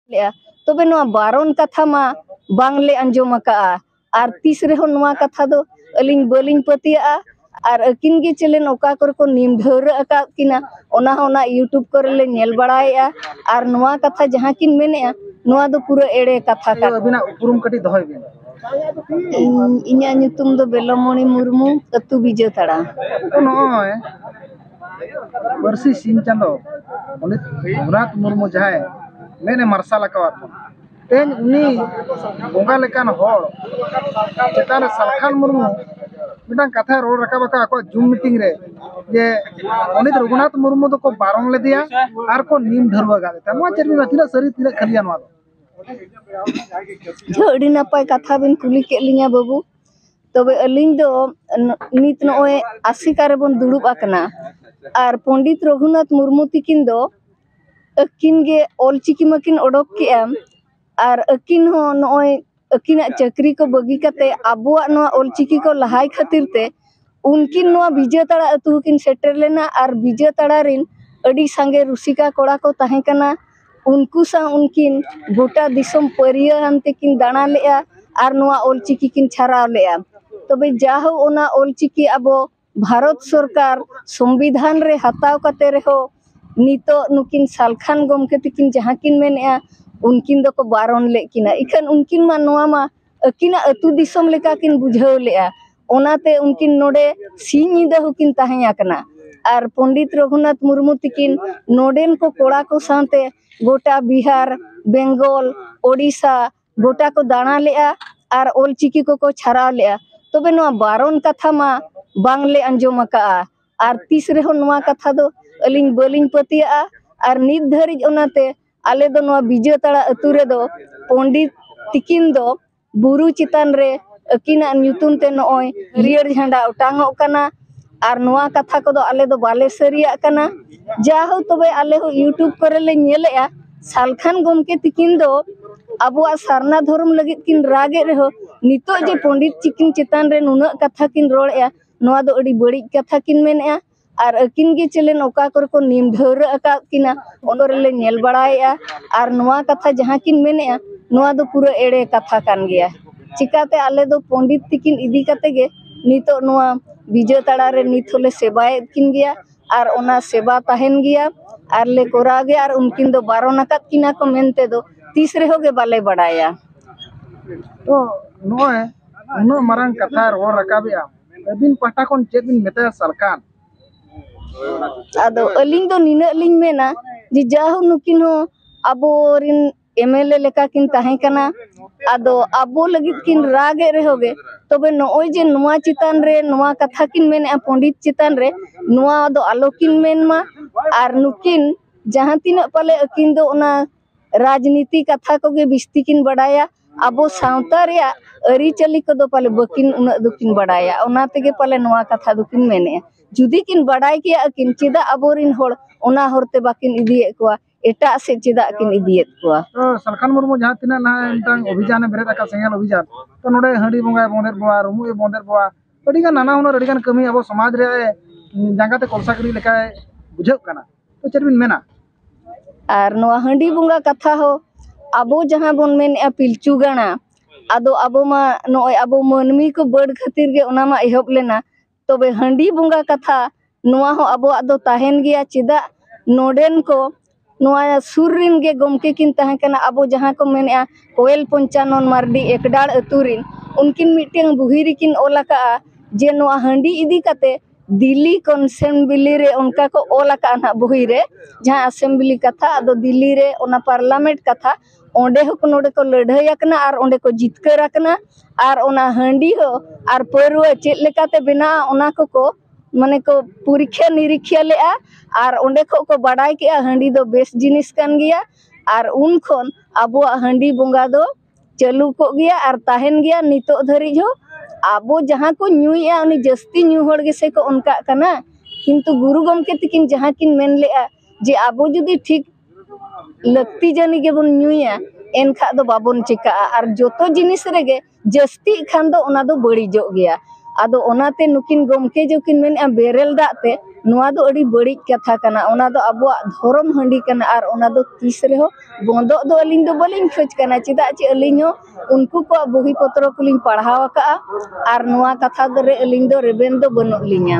ᱞᱮᱜᱼᱟ ᱛᱚᱵᱮ ᱱᱚᱣᱟ ᱵᱟᱨᱚᱱ ᱠᱟᱛᱷᱟ ᱢᱟ ᱵᱟᱝᱞᱮ ᱟᱸᱡᱚᱢ ᱟᱠᱟᱜᱼᱟ ᱟᱨ ᱛᱤᱥ ᱨᱮᱦᱚᱸ ᱱᱚᱣᱟ ᱠᱟᱛᱷᱟ ᱫᱚ ᱟᱹᱞᱤᱧ ᱵᱟᱹᱞᱤᱧ ᱯᱟᱹᱛᱭᱟᱹᱜᱼᱟ ᱟᱨ ᱟᱹᱠᱤᱱ ᱜᱮ ᱪᱮᱞᱮᱱ ᱚᱠᱟ ᱠᱚᱨᱮ ᱠᱚ ᱱᱤᱢ ᱰᱷᱟᱹᱣᱨᱟᱹᱜ ᱟᱠᱟᱫ ᱠᱤᱱᱟ ᱚᱱᱟ ᱦᱚᱸ ᱚᱱᱟ ᱤᱭᱩᱴᱩᱵᱽ ᱠᱚᱨᱮ ᱞᱮ ᱧᱮᱞ ᱵᱟᱲᱟᱭᱮᱜᱼᱟ ᱟᱨ ᱱᱚᱣᱟ ᱠᱟᱛᱷᱟ ᱡᱟᱦᱟᱸ ᱠᱤᱱ ᱢᱮᱱᱮᱜᱼᱟ ᱱᱚᱣᱟ ᱫᱚ ᱯᱩᱨᱟᱹ ᱮᱲᱮ ᱠᱟᱛᱷᱟ ᱠᱟᱱᱟ ᱟᱹᱵᱤᱱᱟᱜ ᱩᱯᱨᱩᱢ ᱠᱟᱹᱴᱤᱡ ᱫᱚᱦᱚᱭ ᱵᱤᱱ ᱤᱧᱟᱹᱜ ᱧᱩᱛᱩᱢ ᱫᱚ ᱵᱮᱞᱚᱢᱚᱱᱤ ᱢᱩᱨᱢᱩ ᱟᱹᱛᱩ ᱵᱤᱡᱟᱹᱛᱟᱲᱟ ᱱᱚᱜᱼᱚᱭ ᱯᱟᱹᱨᱥᱤ ᱥᱤᱧ ᱪᱟᱸᱫᱚ ᱯᱚᱱᱰᱤᱛ ᱨᱚᱜᱷᱩᱱᱟᱛᱷ ᱢᱩᱨᱢᱩ ᱡᱟᱦᱟᱸᱭ ᱢᱮᱫᱼᱮ ᱢᱟᱨᱥᱟᱞ ᱟᱠᱟᱣᱟᱫ ᱵᱚᱱᱟ ᱛᱮᱦᱮᱧ ᱩᱱᱤ ᱵᱚᱸᱜᱟ ᱞᱮᱠᱟᱱ ᱦᱚᱲ ᱪᱮᱛᱟᱱ ᱨᱮ ᱥᱟᱞᱠᱷᱟᱱ ᱢᱩᱨᱢᱩ ᱢᱤᱫᱴᱟᱝ ᱠᱟᱛᱷᱟᱭ ᱨᱚᱲ ᱨᱟᱠᱟᱵ ᱟᱠᱟᱫ ᱟᱠᱚᱣᱟᱜ ᱡᱩᱢ ᱢᱤᱴᱤᱝ ᱨᱮ ᱡᱮ ᱯᱚᱱᱰᱤᱛ ᱨᱚᱜᱷᱩᱱᱟᱛᱷ ᱢᱩᱨᱢᱩ ᱫᱚᱠᱚ ᱵᱟᱨᱚᱱ ᱞᱮᱫᱮᱭᱟ ᱟᱨ ᱠᱚ ᱱᱤᱢ ᱰᱷᱟᱹᱨᱣᱟᱹ ᱜᱟᱫ ᱞᱮᱫᱟ ᱱᱚᱣᱟ ᱪᱮᱫ ᱢᱮᱱᱟ ᱛᱤᱱᱟᱹᱜ ᱥᱟᱹᱨᱤ ᱛᱤᱱᱟᱹᱜ ᱠᱷᱟᱹᱞᱤᱭᱟ ᱱᱚᱣᱟ ᱫᱚ ᱟᱹᱰᱤ ᱱᱟᱯᱟᱭ ᱠᱟᱛᱷᱟ ᱵᱮᱱ ᱠᱩᱞᱤ ᱠᱮᱫ ᱞᱤᱧᱟᱹ ᱵᱟᱹᱵᱩ ᱛᱚᱵᱮ ᱟᱹᱞᱤᱧ ᱫᱚ ᱱᱤᱛ ᱱᱚᱜᱼᱚᱭ ᱟᱥᱮᱠᱟ ᱨᱮᱵᱚᱱ ᱫᱩᱲᱩᱵ ᱟᱠᱟᱱᱟ ᱟᱨ ᱯᱚᱱᱰᱤᱛ ᱨᱟᱹᱜᱷᱩᱱᱟᱛᱷ ᱢᱩᱨᱢᱩ ᱛᱟᱹᱠᱤᱱ ᱫᱚ ᱟᱹᱠᱤᱱ ᱜᱮ ᱚᱞ ᱪᱤᱠᱤ ᱢᱟᱹᱠᱤᱱ ᱚᱰᱚᱠ ᱠᱮᱜᱼᱟ ᱟᱨ ᱟᱹᱠᱤᱱ ᱦᱚᱸ ᱱᱚᱜᱼᱚᱭ ᱟᱹᱠᱤᱱᱟᱜ ᱪᱟᱹᱠᱨᱤ ᱠᱚ ᱵᱟᱹᱜᱤ ᱠᱟᱛᱮᱫ ᱟᱵᱚᱣᱟᱜ ᱱᱚᱣᱟ ᱚᱞ ᱪᱤᱠᱤ ᱠᱚ ᱞᱟᱦᱟᱭ ᱠᱷᱟᱹᱛᱤᱨ ᱛᱮ ᱩᱱᱠᱤᱱ ᱱᱚᱣᱟ ᱵᱤᱡᱮᱛᱟᱲᱟ ᱟᱹᱛᱩ ᱦᱚᱸᱠᱤᱱ ᱥᱮᱴᱮᱨ ᱞᱮᱱᱟ ᱟᱨ ᱵᱤᱡᱮᱛᱟᱲᱟ ᱨᱮᱱ ᱟᱹᱰᱤ ᱥᱟᱸᱜᱮ ᱨᱩᱥᱤᱠᱟ ᱠᱚᱲᱟ ᱠᱚ ᱛᱟᱦᱮᱸ ᱠᱟᱱᱟ ᱩᱱᱠᱩ ᱥᱟᱶ ᱩᱱᱠᱤᱱ ᱜᱚᱴᱟ ᱫᱤᱥᱚᱢ ᱯᱟᱹᱨᱭᱟᱹ ᱦᱟᱱᱛᱮ ᱠᱤᱱ ᱫᱟᱬᱟ ᱞᱮᱜᱼᱟ ᱟᱨ ᱱᱚᱣᱟ ᱚᱞ ᱪᱤᱠᱤ ᱠᱤᱱ ᱪᱷᱟᱨᱟᱣ ᱞᱮᱜᱼᱟ ᱛᱚᱵᱮ ᱡᱟᱦᱳ ᱚᱱᱟ ᱚᱞ ᱪᱤᱠᱤ ᱟᱵᱚ ᱵᱷᱟᱨᱚᱛ ᱥᱚᱨᱠᱟᱨ ᱥᱚᱝᱵᱤᱫᱷᱟᱱ ᱨᱮ ᱦᱟᱛᱟᱣ ᱠᱟᱛᱮ ᱨᱮᱦᱚᱸ ᱱᱤᱛᱚᱜ ᱱᱩᱠᱤᱱ ᱥᱟᱞᱠᱷᱟᱱ ᱜᱚᱢᱠᱮ ᱛᱟᱹᱠᱤᱱ ᱡᱟᱦᱟᱸ ᱠᱤᱱ ᱢᱮᱱᱮᱜᱼᱟ ᱩᱱᱠᱤᱱ ᱫᱚᱠᱚ ᱵᱟᱨᱚᱱ ᱞᱮᱫ ᱠᱤᱱᱟ ᱤᱠᱷᱟᱹᱱ ᱩᱱᱠᱤᱱ ᱢᱟ ᱱᱚᱣᱟ ᱢᱟ ᱟᱹᱠᱤᱱᱟᱜ ᱟᱹᱛᱩ ᱫᱤᱥᱚᱢ ᱞᱮᱠᱟ ᱠᱤᱱ ᱵᱩᱡᱷᱟᱹᱣ ᱞᱮᱜᱼᱟ ᱚᱱᱟᱛᱮ ᱩᱱᱠᱤᱱ ᱱᱚᱰᱮ ᱥᱤᱧ ᱧᱤᱫᱟᱹ ᱦᱚᱸᱠᱤᱱ ᱛᱟᱦᱮᱸ ᱟᱠᱟᱱᱟ ᱟᱨ ᱯᱚᱱᱰᱤᱛ ᱨᱚᱜᱷᱩᱱᱟᱛᱷ ᱢᱩᱨᱢᱩ ᱛᱟᱹᱠᱤᱱ ᱱᱚᱰᱮᱱ ᱠᱚ ᱠᱚᱲᱟ ᱠᱚ ᱥᱟᱶᱛᱮ ᱜᱳᱴᱟ ᱵᱤᱦᱟᱨ ᱵᱮᱝᱜᱚᱞ ᱳᱰᱤᱥᱟ ᱜᱳᱴᱟ ᱠᱚ ᱫᱟᱬᱟ ᱞᱮᱜᱼᱟ ᱟᱨ ᱚᱞ ᱪᱤᱠᱤ ᱠᱚᱠᱚ ᱪᱷᱟᱨᱟᱣ ᱞᱮᱜᱼᱟ ᱛᱚᱵᱮ ᱱᱚᱣᱟ ᱵᱟᱨᱚᱱ ᱠᱟᱛᱷᱟ ᱢᱟ ᱵᱟᱝ ᱞᱮ ᱟᱸᱡᱚᱢ ᱟᱠᱟᱜᱼᱟ ᱟᱨ ᱛᱤᱥ ᱨᱮᱦᱚᱸ ᱱᱚᱣᱟ ᱠᱟᱛᱷᱟ ᱫᱚ ᱟᱹᱞᱤᱧ ᱵᱟᱹᱞᱤᱧ ᱯᱟᱹᱛᱭᱟᱹᱜᱼᱟ ᱟᱨ ᱱᱤᱛ ᱫᱷᱟᱹᱨᱤᱡ ᱚᱱᱟᱛᱮ ᱟᱞᱮ ᱫᱚ ᱱᱚᱣᱟ ᱵᱤᱡᱚᱭ ᱛᱟᱲᱟ ᱟᱹᱛᱩ ᱨᱮᱫᱚ ᱯᱚᱱᱰᱤᱛ ᱛᱤᱠᱤᱱ ᱫᱚ ᱵᱩᱨᱩ ᱪᱮᱛᱟᱱ ᱨᱮ ᱟᱹᱠᱤᱱᱟᱜ ᱧᱩᱛᱩᱢ ᱛᱮ ᱱᱚᱜᱼᱚᱭ ᱦᱟᱹᱨᱭᱟᱹᱲ ᱡᱷᱟᱸᱰᱟ ᱚᱴᱟᱝᱚᱜ ᱠᱟᱱᱟ ᱟᱨ ᱱᱚᱣᱟ ᱠᱟᱛᱷᱟ ᱠᱚᱫᱚ ᱟᱞᱮ ᱫᱚ ᱵᱟᱞᱮ ᱥᱟᱹᱨᱤᱭᱟᱜ ᱠᱟᱱᱟ ᱡᱟᱦᱳ ᱛᱚᱵᱮ ᱟᱞᱮ ᱦᱚᱸ ᱤᱭᱩᱴᱩᱵᱽ ᱠᱚᱨᱮ ᱞᱮ ᱧᱮᱞᱮᱜᱼᱟ ᱥᱟᱞᱠᱷᱟᱱ ᱜᱚᱢᱠᱮ ᱛᱤᱠᱤᱱ ᱫᱚ ᱟᱵᱚᱣᱟᱜ ᱥᱟᱨᱱᱟ ᱫᱷᱚᱨᱚᱢ ᱞᱟᱹᱜᱤᱫ ᱠᱤᱱ ᱨᱟᱜᱮᱫ ᱨᱮᱦᱚᱸ ᱱᱤᱛᱚᱜ ᱡᱮ ᱯᱚᱱᱰᱤᱛ ᱛᱤᱠᱤᱱ ᱪᱮᱛᱟᱱ ᱨᱮ ᱱᱩᱱᱟᱹᱜ ᱠᱟᱛᱷᱟ ᱠᱤᱱ ᱨᱚᱲᱮᱜᱼᱟ ᱱᱚᱣᱟ ᱫᱚ ᱟᱹᱰᱤ ᱵᱟᱹᱲᱤᱡ ᱠᱟᱛᱷᱟ ᱠᱤᱱ ᱢᱮᱱᱮᱜᱼᱟ ᱟᱨ ᱟᱹᱠᱤᱱ ᱜᱮ ᱪᱮᱞᱮᱱ ᱚᱠᱟ ᱠᱚᱨᱮ ᱠᱚ ᱱᱤᱢ ᱰᱷᱟᱹᱣᱨᱟᱹᱜ ᱟᱠᱟᱫ ᱠᱤᱱᱟ ᱚᱱᱟ ᱨᱮᱞᱮ ᱧᱮᱞ ᱵᱟᱲᱟᱭᱮᱫᱼᱟ ᱟᱨ ᱱᱚᱣᱟ ᱠᱟᱛᱷᱟ ᱡᱟᱦᱟᱸ ᱠᱤᱱ ᱢᱮᱱᱮᱫᱼᱟ ᱱᱚᱣᱟ ᱫᱚ ᱯᱩᱨᱟᱹ ᱮᱲᱮ ᱠᱟᱛᱷᱟ ᱠᱟᱱ ᱜᱮᱭᱟ ᱪᱤᱠᱟᱹᱛᱮ ᱟᱞᱮ ᱫᱚ ᱯᱚᱱᱰᱤᱛ ᱛᱟᱹᱠᱤᱱ ᱤᱫᱤ ᱠᱟᱛᱮᱫ ᱜᱮ ᱱᱤᱛᱚᱜ ᱱᱚᱣᱟ ᱵᱤᱡᱚᱭ ᱛᱟᱲᱟ ᱨᱮ ᱱᱤᱛ ᱦᱚᱸᱞᱮ ᱥᱮᱵᱟᱭᱮᱫ ᱠᱤᱱ ᱜᱮᱭᱟ ᱟᱨ ᱚᱱᱟ ᱥᱮᱵᱟ ᱛᱟᱦᱮᱱ ᱜᱮᱭᱟ ᱟᱨ ᱞᱮ ᱠᱚᱨᱟᱣ ᱜᱮᱭᱟ ᱟᱨ ᱩᱱᱠᱤᱱ ᱫᱚ ᱵᱟᱨᱚᱱ ᱟᱠᱟᱫ ᱠᱤᱱᱟ ᱠᱚ ᱢᱮᱱᱛᱮ ᱫᱚ ᱛᱤᱥ ᱨᱮᱦᱚᱸ ᱜᱮ ᱵᱟᱞᱮ ᱵᱟᱲᱟᱭᱟ ᱛᱚ ᱱᱚᱜᱼᱚᱭ ᱩᱱᱟᱹᱜ ᱢᱟᱨᱟᱝ ᱠᱟᱛᱷᱟ ᱨᱚᱲ ᱨᱟᱠᱟᱵᱮᱜᱼᱟᱢ ᱟᱹᱵᱤᱱ ᱯᱟᱦᱴᱟ ᱠᱷᱚᱱ ᱪᱮᱫ ᱵᱤᱱ ᱢᱮᱛᱟᱭᱟ ᱥᱚᱨᱠᱟᱨ ᱟᱫᱚ ᱟᱹᱞᱤᱧ ᱫᱚ ᱱᱤᱱᱟᱹᱜ ᱞᱤᱧ ᱢᱮᱱᱟ ᱡᱮ ᱡᱟᱦᱳ ᱱᱩᱠᱤᱱ ᱦᱚᱸ ᱟᱵᱚᱨᱤᱱ ᱮᱢᱮᱞᱮ ᱞᱮᱠᱟ ᱠᱤᱱ ᱛᱟᱦᱮᱸ ᱠᱟᱱᱟ ᱟᱫᱚ ᱟᱵᱚ ᱞᱟᱹᱜᱤᱫ ᱠᱤᱱ ᱨᱟᱜ ᱮᱫ ᱨᱮᱦᱚᱸ ᱜᱮ ᱛᱚᱵᱮ ᱱᱚᱜᱼᱚᱭ ᱡᱮ ᱱᱚᱣᱟ ᱪᱮᱛᱟᱱ ᱨᱮ ᱱᱚᱣᱟ ᱠᱟᱛᱷᱟ ᱠᱤᱱ ᱢᱮᱱᱮᱫᱼᱟ ᱯᱚᱸᱰᱤᱛ ᱪᱮᱛᱟᱱ ᱨᱮ ᱱᱚᱣᱟ ᱫᱚ ᱟᱞᱚ ᱠᱤᱱ ᱢᱮᱱ ᱢᱟ ᱟᱨ ᱱᱩᱠᱤᱱ ᱡᱟᱦᱟᱸ ᱛᱤᱱᱟᱹᱜ ᱯᱟᱞᱮ ᱟᱹᱠᱤᱱ ᱫᱚ ᱚᱱᱟ ᱨᱟᱡᱽᱱᱤᱛᱤ ᱠᱟᱛᱷᱟ ᱠᱚᱜᱮ ᱵᱤᱥᱛᱤ ᱠᱤᱱ ᱵᱟᱰᱟᱭᱟ ᱟᱵᱚ ᱥᱟᱶᱛᱟ ᱨᱮᱭᱟᱜ ᱟᱹᱨᱤᱪᱟᱹᱞᱤ ᱠᱚᱫᱚ ᱯᱟᱞᱮ ᱵᱟᱹᱠᱤᱱ ᱩᱱᱟᱹᱜ ᱫᱚᱠᱤᱱ ᱵᱟᱰᱟᱭᱟ ᱚᱱᱟ ᱛᱮᱜᱮ ᱯᱟᱞᱮ ᱱᱚᱣᱟ ᱠᱟᱛᱷᱟ ᱫᱚᱠᱤᱱ ᱢᱮᱱᱮᱜᱼᱟ ᱡᱩᱫᱤ ᱠᱤᱱ ᱵᱟᱰᱟᱭ ᱠᱮᱭᱟ ᱟᱹᱠᱤᱱ ᱪᱮᱫᱟᱜ ᱟᱵᱚᱨᱤᱱ ᱦᱚᱲ ᱚᱱᱟ ᱦᱚᱨᱛᱮ ᱵᱟᱹᱠᱤᱱ ᱤᱫᱤᱭᱮᱫ ᱠᱚᱣᱟ ᱮᱴᱟᱜ ᱥᱮᱫ ᱪᱮᱫᱟᱜ ᱠᱤᱱ ᱤᱫᱤᱭᱮᱫ ᱠᱚᱣᱟ ᱥᱟᱞᱠᱷᱟᱱ ᱢᱩᱨᱢᱩ ᱡᱟᱦᱟᱸ ᱛᱤᱱᱟᱹᱜ ᱱᱟᱦᱟᱜ ᱢᱤᱫᱴᱟᱝ ᱚᱵᱷᱤᱡᱟᱱᱮ ᱵᱮᱨᱮᱫ ᱟᱠᱟᱫ ᱥᱮᱸᱜᱮᱞ ᱚᱵᱷᱤᱡᱟᱱ ᱛᱚ ᱱᱚᱰᱮ ᱦᱟᱺᱰᱤ ᱵᱚᱸᱜᱟᱭ ᱵᱚᱸᱫᱮᱫ ᱵᱚᱱᱟ ᱨᱩᱢᱩᱜ ᱮ ᱵᱚᱸᱫᱮᱫ ᱵᱚᱱᱟ ᱟᱹᱰᱤᱜᱟᱱ ᱱᱟᱱᱟ ᱦᱩᱱᱟᱹᱨ ᱟᱹᱰᱤᱜᱟᱱ ᱠᱟᱹᱢᱤ ᱟᱵᱚ ᱥᱚᱢᱟᱡᱽ ᱨᱮ ᱡᱟᱸᱜᱟᱛᱮ ᱠᱚᱞᱥᱟ ᱜᱤᱰᱤ ᱞᱮᱠᱟᱭ ᱵᱩᱡᱷᱟᱹᱜ ᱠᱟᱱᱟ ᱛᱚ ᱪᱮᱫ ᱵᱤᱱ ᱢᱮᱱᱟ ᱟᱨ ᱱᱚᱣᱟ ᱦᱟᱺᱰᱤ ᱵᱚᱸᱜᱟ ᱠᱟᱛᱷᱟ ᱦᱚᱸ ᱟᱵᱚ ᱡᱟᱦᱟᱸ ᱵᱚᱱ ᱢᱮᱱᱮᱫᱼᱟ ᱯᱤᱞᱪᱩ ᱜᱟᱲᱟ ᱟᱫᱚ ᱟᱵᱚ ᱢᱟ ᱱᱚᱜᱼᱚᱸᱭ ᱟᱵᱚ ᱢᱟᱹᱱᱢᱤ ᱠᱚ ᱵᱟᱹᱰ ᱠᱷᱟᱹᱛᱤᱨ ᱜᱮ ᱚᱱᱟ ᱢᱟ ᱮᱦᱚᱵ ᱞᱮᱱᱟ ᱛᱚᱵᱮ ᱦᱟᱺᱰᱤ ᱵᱚᱸᱜᱟ ᱠᱟᱛᱷᱟ ᱱᱚᱣᱟ ᱦᱚᱸ ᱟᱵᱚᱣᱟᱜ ᱫᱚ ᱛᱟᱦᱮᱱ ᱜᱮᱭᱟ ᱪᱮᱫᱟᱜ ᱱᱚᱰᱮᱱ ᱠᱚ ᱱᱚᱣᱟ ᱥᱩᱨ ᱨᱮᱱ ᱜᱮ ᱜᱚᱢᱠᱮ ᱠᱤᱱ ᱛᱟᱦᱮᱸ ᱠᱟᱱᱟ ᱟᱵᱚ ᱡᱟᱦᱟᱸ ᱠᱚ ᱢᱮᱱᱮᱫᱼᱟ ᱠᱚᱭᱮᱞ ᱯᱚᱧᱪᱟᱱᱚᱱ ᱢᱟᱹᱨᱰᱤ ᱮᱠᱰᱟᱲ ᱟᱛᱳ ᱨᱤᱱ ᱩᱱᱠᱤᱱ ᱢᱤᱫᱴᱮᱱ ᱵᱩᱦᱤ ᱨᱮᱠᱤᱱ ᱚᱞ ᱟᱠᱟᱫᱼᱟ ᱡᱮ ᱱᱚᱣᱟ ᱦᱟᱺᱰᱤ ᱤᱫᱤ ᱠᱟᱛᱮᱫ ᱫᱤᱞᱞᱤ ᱠᱚᱱᱥᱮᱢᱵᱞᱤ ᱨᱮ ᱚᱱᱠᱟ ᱠᱚ ᱚᱞ ᱟᱠᱟᱫᱼᱟ ᱱᱟᱦᱟᱜ ᱵᱳᱭ ᱨᱮ ᱡᱟᱦᱟᱸ ᱮᱥᱮᱢᱵᱞᱤ ᱠᱟᱛᱷᱟ ᱟᱫᱚ ᱫᱤᱞᱞᱤ ᱨᱮ ᱚᱱᱟ ᱯᱟᱨᱞᱟᱢᱮᱱᱴ ᱠᱟᱛᱷᱟ ᱚᱸᱰᱮ ᱦᱚᱸᱠᱚ ᱱᱚᱰᱮ ᱠᱚ ᱞᱟᱹᱲᱦᱟᱹᱭ ᱟᱠᱟᱱᱟ ᱟᱨ ᱚᱸᱰᱮ ᱠᱚ ᱡᱤᱛᱠᱟᱹᱨ ᱟᱠᱟᱱᱟ ᱟᱨ ᱚᱱᱟ ᱦᱟᱺᱰᱤ ᱦᱚᱸ ᱟᱨ ᱯᱟᱹᱣᱨᱟᱹ ᱪᱮᱫ ᱞᱮᱠᱟᱛᱮ ᱵᱮᱱᱟᱜᱼᱟ ᱚᱱᱟ ᱠᱚᱠᱚ ᱢᱟᱱᱮ ᱠᱚ ᱯᱚᱨᱤᱠᱠᱷᱟ ᱱᱤᱨᱤᱠᱠᱷᱟ ᱞᱮᱫᱼᱟ ᱟᱨ ᱚᱸᱰᱮ ᱠᱷᱚᱱ ᱠᱚ ᱵᱟᱰᱟᱭ ᱠᱮᱫᱼᱟ ᱦᱟᱺᱰᱤ ᱫᱚ ᱵᱮᱥ ᱡᱤᱱᱤᱥ ᱠᱟᱱ ᱜᱮᱭᱟ ᱟᱨ ᱩᱱ ᱠᱷᱚᱱ ᱟᱵᱚᱣᱟᱜ ᱦᱟᱺᱰᱤ ᱵᱚᱸᱜᱟ ᱫᱚ ᱪᱟᱹᱞᱩ ᱠᱚᱜ ᱜᱮᱭᱟ ᱟᱨ ᱛᱟᱦᱮᱱ ᱜᱮᱭᱟ ᱱᱤᱛᱚᱜ ᱫᱷᱟᱹᱨᱤᱡ ᱦᱚᱸ ᱟᱵᱚ ᱡᱟᱦᱟᱸ ᱠᱚ ᱧᱩᱭᱮᱜᱼᱟ ᱩᱱᱤ ᱡᱟᱹᱥᱛᱤ ᱧᱩ ᱦᱚᱲ ᱜᱮᱥᱮ ᱠᱚ ᱚᱱᱠᱟᱜ ᱠᱟᱱᱟ ᱠᱤᱱᱛᱩ ᱜᱩᱨᱩ ᱜᱚᱢᱠᱮ ᱛᱟᱹᱠᱤᱱ ᱡᱟᱦᱟᱸ ᱠᱤᱱ ᱢᱮᱱ ᱞᱮᱜᱼᱟ ᱡᱮ ᱟᱵᱚ ᱡᱩᱫᱤ ᱴᱷᱤᱠ ᱞᱟᱹᱠᱛᱤ ᱡᱟᱹᱱᱤ ᱜᱮᱵᱚᱱ ᱧᱩᱭᱟ ᱮᱱᱠᱷᱟᱱ ᱫᱚ ᱵᱟᱵᱚᱱ ᱪᱤᱠᱟᱹᱜᱼᱟ ᱟᱨ ᱡᱚᱛᱚ ᱡᱤᱱᱤᱥ ᱨᱮᱜᱮ ᱡᱟᱹᱥᱛᱤᱜ ᱠᱷᱟᱱ ᱫᱚ ᱚᱱᱟ ᱫᱚ ᱵᱟᱹᱲᱤᱡᱚᱜ ᱜᱮᱭᱟ ᱟᱫᱚ ᱚᱱᱟᱛᱮ ᱱᱩᱠᱤᱱ ᱜᱚᱢᱠᱮ ᱡᱮᱠᱤᱱ ᱢᱮᱱᱮᱜᱼᱟ ᱵᱮᱨᱮᱞ ᱫᱟᱜ ᱛᱮ ᱱᱚᱣᱟ ᱫᱚ ᱟᱹᱰᱤ ᱵᱟᱹᱲᱤᱡ ᱠᱟᱛᱷᱟ ᱠᱟᱱᱟ ᱚᱱᱟ ᱫᱚ ᱟᱵᱚᱣᱟᱜ ᱫᱷᱚᱨᱚᱢ ᱦᱟᱺᱰᱤ ᱠᱟᱱᱟ ᱟᱨ ᱚᱱᱟ ᱫᱚ ᱛᱤᱥ ᱨᱮᱦᱚᱸ ᱵᱚᱱᱫᱚᱜ ᱫᱚ ᱟᱹᱞᱤᱧ ᱫᱚ ᱵᱟᱹᱞᱤᱧ ᱠᱷᱚᱡᱽ ᱠᱟᱱᱟ ᱪᱮᱫᱟᱜ ᱪᱮ ᱟᱹᱞᱤᱧ ᱦᱚᱸ ᱩᱱᱠᱩ ᱠᱚᱣᱟᱜ ᱵᱳᱭ ᱯᱚᱛᱨᱚ ᱠᱚᱞᱤᱧ ᱯᱟᱲᱦᱟᱣ ᱟᱠᱟᱫᱼᱟ ᱟᱨ ᱱᱚᱣᱟ ᱠᱟᱛᱷᱟ ᱨᱮ ᱟᱹᱞᱤᱧ ᱫᱚ ᱨᱮᱵᱮᱱ ᱫᱚ ᱵᱟᱹᱱᱩᱜ ᱞᱤᱧᱟ